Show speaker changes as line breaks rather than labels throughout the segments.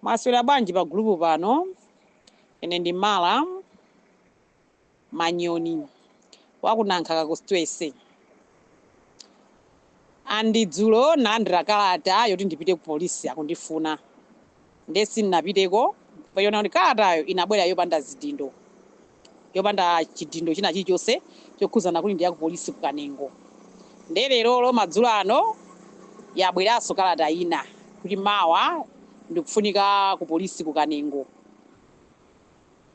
Mwaswera bwanji pa gulupu pano? Ine ndi Mala Manyoni wa ku Nankhaka constituency. And dzulo nalandira kalata yoti ndipite ku polisi akundifuna. Ndiye sindinapiteko pachona kuti kalatayo inabwera yopanda zidindo. yopanda chidindo china chilichonse chokhudzana kuti ndi ya ku polisi ku Kanengo. Ndiye lerolo madzulo ano yabweranso kalata ina kuti mawa ndikufunika ku polisi ku Kanengo.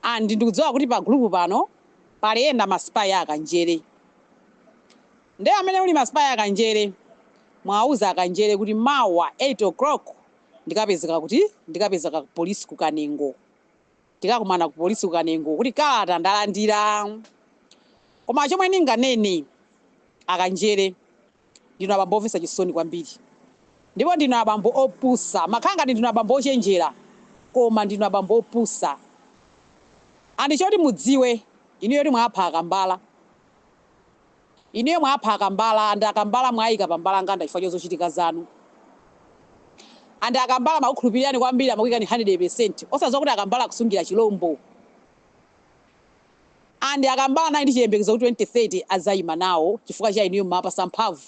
And ndikudziwa kuti pa group pano pali ena masipayi a Kanjere. Ndiye amene uli masipayi a Kanjere muwauze akanjere kuti mawa 8 o'clock ndikapezeka kuti ndikapezeka ku polisi ku Kanengo. tikakumana ku polisi ku kanengo kuti kalata ndalandira koma chomwe ndinganene akanjere ndinu abambo omvetsa chisoni kwambiri ndipo ndinu abambo opusa makhala ngati ndinu abambo ochenjera koma ndinu abambo opusa andi choti mudziwe inuyo ti mwapha akambala Inuyo mwapha akambala and akambala mwawaika pa mbalanganda chifukwa chozochitika zanu and akambala amakukhulupirirani kwambiri amakuikani 100% osadziwa kuti akambala akusungira chilombo and akambala anali ndi chiyembekezo kuti 2030 adzaima nawo chifukwa cha inuyo mumawapatsa mphamvu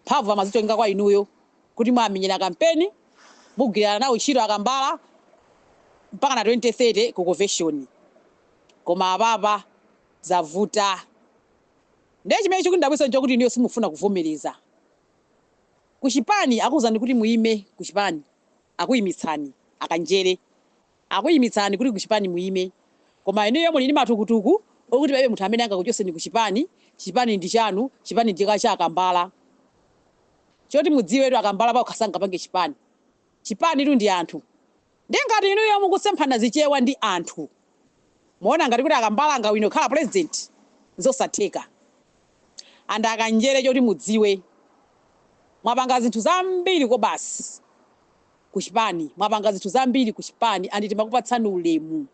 mphamvu amazichongeka kwa inuyo kuti mwamenyera kampeni mugwirana nawo ntchito akambala mpakana 2030 ku konveshoni koma apapa zavuta. Ndiye chimene chikundidabwitsa nchokuti inuyo simufuna kuvomereza. Ku chipani akuuzani kuti muime ku chipani akuimitsani, akanjere akuimitsani kuti ku chipani muime koma inuyo muli ndi matukutuku okuti palibe munthu amene angakuchotseni ku chipani, chipani ndi chanu, chipani ndi cha akambala. Choti mudziwetu akambala pawokha sangapange chipani. Chipanitu ndi anthu. Ndiye ngati inuyo mukusemphana zichewa ndi anthu mukuona ngati kuti akambala angawine kukhala president? Nzosatheka and akanjere choti mudziwe mwapanga zinthu zambiri kobasi kuchipani mwapanga zinthu zambiri kuchipani and timakupatsani ulemu.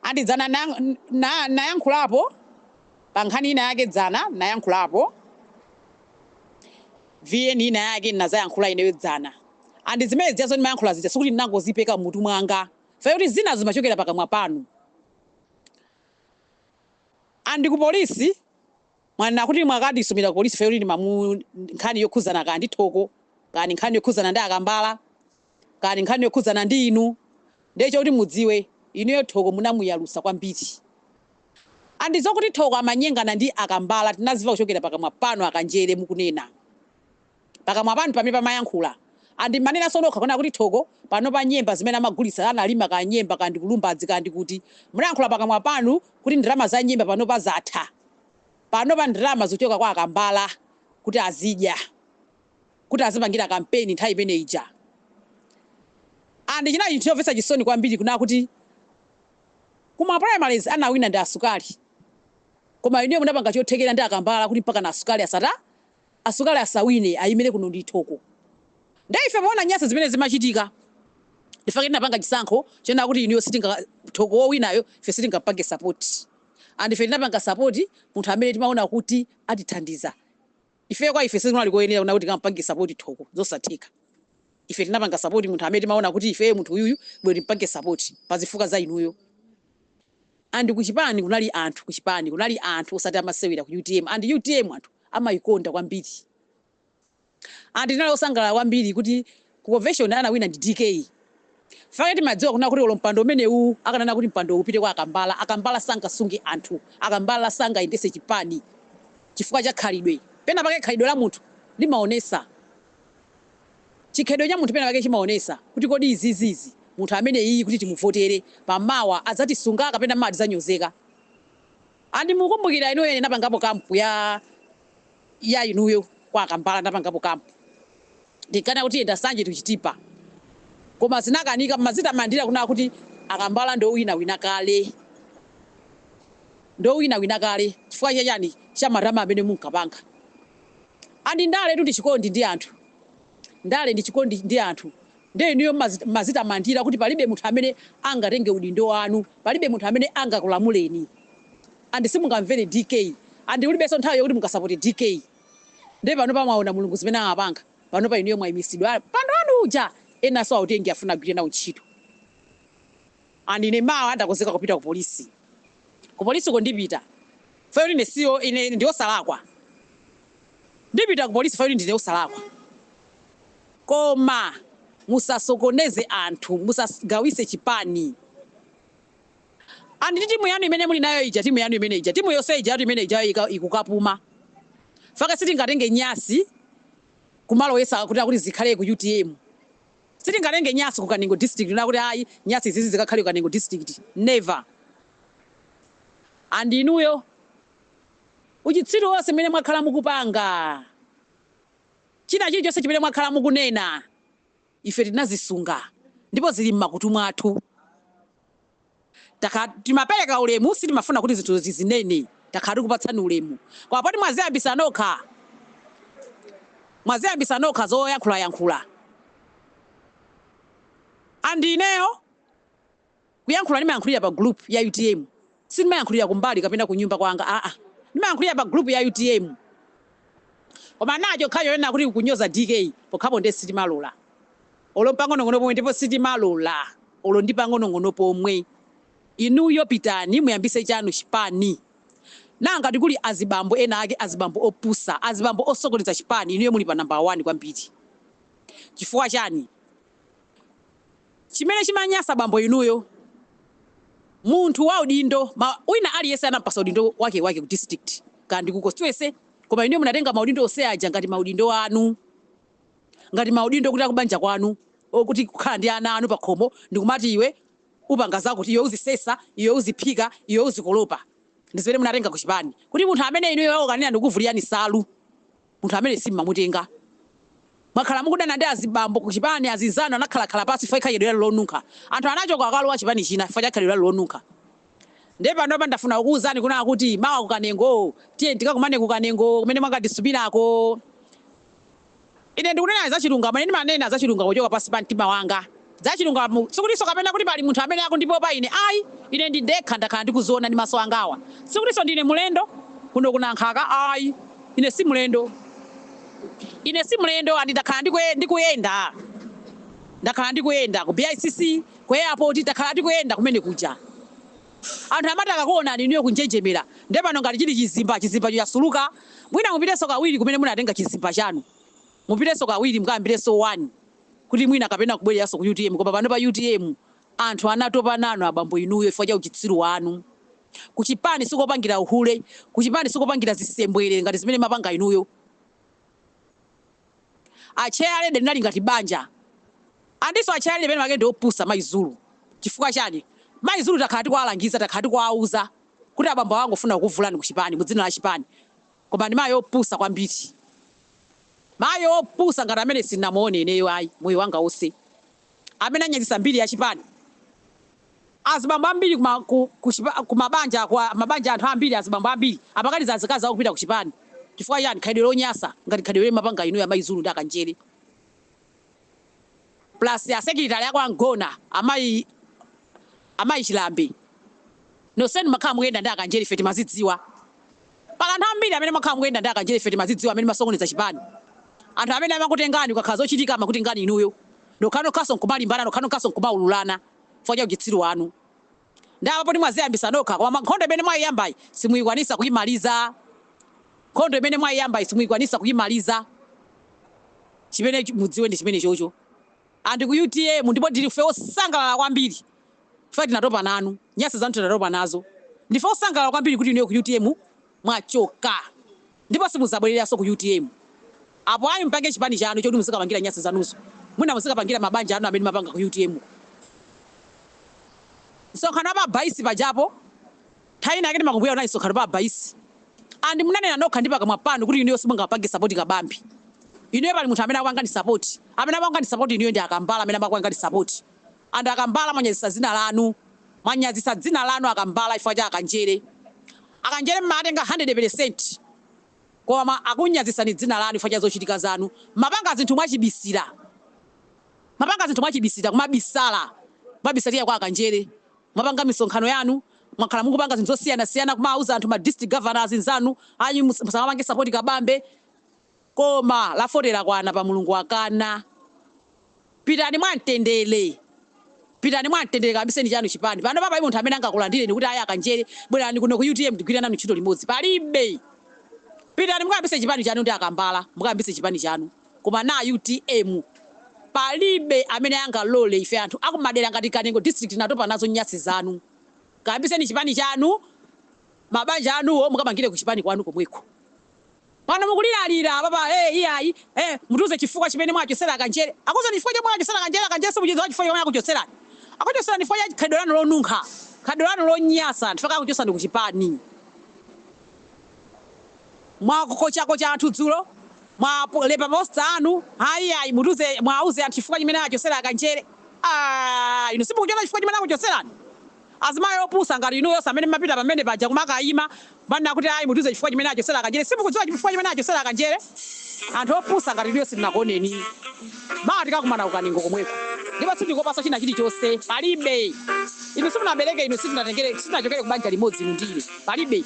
And dzana na, na, ndayankhulapo pa nkhani ina yake dzana ndayankhulapo vn ina yake ndinazayankhula ineyo dzana and zimene zijazo ndimayankhula zija sikuti ndinangozipeka mutu mwanga pfayo kuti zina zimachokera pakamwa panu and ku polisi mwanena kuti mwakandisumira ku polisi pfayo kuti ndi nkhani yokhudzana kaya ndi thoko kaya ndi nkhani yokhudzana ndi akambala Kaya ndi nkhani yokhudzana ndi inu ndiye choti mudziwe inuyo Thoko munamuyalutsa kwambiri and zokuti Thoko amanyengana ndi akambala tinadziwa kuchokera pakamwa panu akanjere mukunena pakamwa panu pamene pamayankhula and mumanenanso nokha kunena kuti Thoko panopa nyemba zimene amagulitsa analima kaya nyemba kaya ndi ku Lumbadzi kaya ndi kuti munayankhula pakamwa panu kuti ndalama za nyemba panopa zatha panopa ndalama zikuchoka kwa akambala kuti azidya kuti azipangira kampeni nthawi imene ija and chinali chinthu chomvetsa chisoni kwambiri kunena kuti ku ma primaries anawina ndi asukali koma inuyo munapanga chothekera ndi akambala kuti mpakana asukali asata asukali asawine aimire kuno ndi Thoko nde ife poona nyasi zimene zimachitika ndifake tinapanga chisankho chonena kuti inuyo sitinga Thoko wowinayo ife sitingampange sapoti and ife tinapanga sapoti munthu amene timaona kuti atithandiza Ifeyo kwa ife sizinali koyenera kunena kuti tikampange support Thoko. Zosatheka. Ife tinapanga support munthu amene timaona kuti ifeyo munthu uyuyu bola timpange support pazifukwa za inuyo. And ku chipani kunali anthu ku chipani kunali anthu osati amasewera ku utm and utm anthu amaikonda kwambiri. And tinali osangalala kwambiri kuti Ku convention anawina ndi DK fake timadziwa kunena kuti olo mpando umenewuwu akananena kuti mpandowu upite kwa akambala akambala sangasunge anthu akambala sangayendese chipani chifukwa cha khalidwe pena pake khalidwe la munthu limaonesa chikhalidwe cha munthu pena pake chimaonesa kuti kodi izizizi munthu ameneyiyi kuti timuvotere pa mawa adzatisunga kapena mawa tidzanyozeka And mukumbukira inuyo ine napangapo camp ya ya inuyo kwa akambala napangapo camp ndinkana kuti yenda sanje to chitipa koma zinakanika mmadzitamandira kunena kuti akambala ndo wina wina kale ndo wina wina kale chifukwa cha chani cha malama amene munkapanga and ndaletu ndi chikondi ndi anthu ndale ndi chikondi ndi anthu Ndiye inuyo m'madzitamandira kuti palibe munthu amene angatenge udindo wanu, palibe munthu amene angakulamuleni and simungamvere DK and mulibenso nthawi yokuti mukasapote DK. Ndiye panopa mwaona Mulungu zimene amapanga, panopa inuyo mwaimitsidwa mpando wanu uja enanso autenge afuna agwire nawo ntchito. and ine mawa ndakonzeka kupita ku police ku policeko ndipita fayoti ine siyo ine ndine osalakwa ndipita ku police fayoti ndine osalakwa koma musasokoneze anthu musagawise chipani and ndi timu yanu imene muli nayo ija timu yanu imene ija timu yonse ija yatu imene ija ika- ikukapuma fake sitingatenge nyasi kumaloleza kuti akuti zikhale ku utm Sitingatenge nyasi ku Kanengo district kunena kuti ayi nyasi izizi zikakhale ku Kanengo district never and inuyo uchitsiru onse umene mwakhala mukupanga china chilichonse chimene mwakhala mukunena ife tinazisunga ndipo zili mmakutu mwathu. Takhala timapeleka ulemu sitimafuna kuti zinthu tizinene takhala tikupatsani ulemu koma poti mwaziyambisa nokha mwaziyambisa nokha zoyankhula yankhula and ineyo kuyankhula ndimayankhulira pa group ya utm sindimayankhulira kumbali kapena kunyumba kwanga aa ndimayankhulira pa group ya utm koma na chokhacho chonena kuti kunyoza dk pokhapo nde sitimalola olo mpang'onong'ono pomwe ndipo sitimalola olo ndi pang'onong'ono pomwe inuyo pitani muyambise chanu chipani naa ngati kuli azibambo ena ake azibambo opusa azibambo osokoneza chipani inuyo muli pa number 1 kwambiri chifukwa chani chimene chimanyasa bambo inuyo munthu wa udindo ma, wina aliyese anampasa udindo wake wake ku district kandi ku constituency koma inuyo munatenga maudindo ose aja ngati maudindo anu ngati maudindo kuti akubanja kwanu or kuti kukhala ndi ana anu pakhomo ndikumati iwe upanga zakuti iwe uzisesa iwe uziphika iwe uzikolopa ndizimene munatenga kuchipani kuti munthu amene inuyo wakukanirani kuvulirani salu munthu amene simmamutenga mwakhala mukudana ndi azibambo kuchipani azinzanu anakhalakhala pasi chifukwa khalidwe lanu lonunkha anthu anachoka akalowa chipani china chifukwa cha khalidwe lanu lonunkha nde panopa ndafuna kukuwuzani kunaa kuti mawa kukanengo tiye tikakumane kukanengo kumene mwakatisumirako Ine ndikunena za chirungamo, ine ndimanena za chirungamo kuchoka pansi pa mtima wanga, za chirungamo. Sikutinso kapena kuti pali munthu amene akundipopa ine, ayi, ine ndindekha ndakhala ndikuziwona ndi maso angawa. Sikutinso ndine mlendo kuno ku Nankhaka, ayi, ine si mlendo. Ine si mlendo, andi ndakhala ndikuyenda, ndakhala ndikuyenda ku BICC, ku airport, ndakhala ndikuyenda kumene kuja. Anthu amati akakuonani inuyo kunjenjemera nde pano ngati chili chizimba, chizimbacho chasuluka mwina mupitenso kawiri kumene munatenga chizimba chanu. Mupitenso kawiri mukayambirenso 1 kuti mwina kapena kubwereranso ku utm koma panopa utm anthu anatopa nanu abambo inuyo chifukwa cha uchitsiru wanu. Kuchipani sikopangira uhule, kuchipani sikopangira zisembwere ngati zimene mapanga inuyo. A chairlady linali ngati banja andiso a chairlady penapake nde opusa mayi Zulu chifukwa chani mayi Zulu takhala tikuwalangiza takhala tikuwauza kuti abambo awo angofuna kukuvulani ku chipani mu dzina la chipani koma ndi mayi opusa kwambiri mayi opusa ngati amene sindinamuone ineyo ayi moyo wanga onse amene anyazisa mbiri ya chipani azibambo ambili kumabanja mabanja anthu ambili azibambo ambili amakaniza azikazi awo kupita kuchipani chifukwa chani khalidwe lonyasa ngati khalidwe limene mapanga inuyo amayi zulu ndi akanjele plus asekilitale ako a Ngona amayi amayi chilambe nonsenu makhala mukuyenda ndi akanjele ife timazidziwa. Pali anthu ambiri amene mwakhala mukuyenda ndi akanjele ife timazidziwa amene masokoneza chipani anthu amene amakutengani kukakhala zochitika amakutengani inuyo nokhanokhaso nkumalimbana nokhanokhaso nkumaululana chifukwa cha uchitsiru wanu nde apa poti mwaziyambisa nokha koma nkhondo imene mwaiyambayi simuyikwanisa kuyimaliza nkhondo imene mwaiyambayi simuyikwanisa kuyimaliza chimene mudziwe ndi chimenechocho. And ku utm ndipo ndife osangalala kwambiri chifukwa tinatopa nanu, nyasi zanu tinatopa nazo. Ndife osangalala kwambiri kuti inuyo ku utm mwachoka ndipo simuzabwereranso ku utm. Apo ayi mupange chipani chanu choti muzikapangira nyasi zanuzo. Mwina muzikapangira mabanja anu amene mumapanga ku utm ko. Msonkhano wa pa Baisi pajapo. Nthawi inayake munabwera unali msonkhano pa Abaisi and munanena nokha ndi pakamwa panu kuti inuyo simungapange support Kabambe. Inuyo pali munthu amene amakupangani support? Amene amakupangani support inuyo ndi a Kambala amene amakupangani support and a Kambala mwanyazitsa dzina lanu. Mwanyazitsa dzina lanu a Kambala chifukwa cha a Kanjere. A Kanjere mmawatenga 100 percent koma akunyazitsani dzina lanu chifukwa cha zochitika zanu. Mmapanga zinthu mwachibisira. Mmapanga zinthu mwachibisira, kumabisala. Kumabisalira kwa a Kanjere. Mwapanga misonkhano yanu, mwakhala mukupanga zinthu zosiyanasiyana kumawauza anthu ma district governors nzanu ayi musamapange support Kabambe koma la 40 lakwana poti Mulungu wakana. Pitani mwa mtendere. Pitani mwa mtendere kayambiseni chanu chipani. Panopa palibe munthu amene angakulandireni kuti ayi a Kanjere bwerani kuno ku utm tigwire nanu ntchito limodzi. Palibe. Pitani mukayambitse chipani chanu ndi a Kambala, mukayambitse chipani chanu. Koma na utm palibe amene angalore ife anthu akumadera ngati kanengo district tinatopa nazo nyasi zanu kayambiseni chipani chanu mabanja anuwo mukamangire kuchipani kwanu komweko pano mukuliralira apapa ee iyayi ee mutiuze chifukwa chimene mwachosera kanjere akuuzeni chifukwa chomwe mwachosera kanjere kanjere simuchidziwa chifukwa chomwe akuchotserani akuchotserani chifukwa cha khalidwe lanu lonunkha khalidwe lanu lonyasa ndichifukwa chake akuchotserani kuchipani. Mwakochakocha anthu dzulo, mwalemba poster yanu, ayi ayi mutiuze mwauze anthu chifukwa chimene achosera akanjere aah inu simukuchiona chifukwa chimene akuchoserani? Azimayi opusa ngati inuyo onse amene mmapita pamene paja kumakaima manena kuti ayi mutiuze chifukwa chimene achosera akanjere simukudziwa chifukwa chimene achosera akanjere? Anthu opusa ngati inuyo sitinakuoneni. Mawa tikakumana ku Kanengo komweko ndipo sindikopaso china chilichose palibe inu simunandibeleke inu sitinatengele sitinachokele kubanja limodzi inu ndi ine palibe.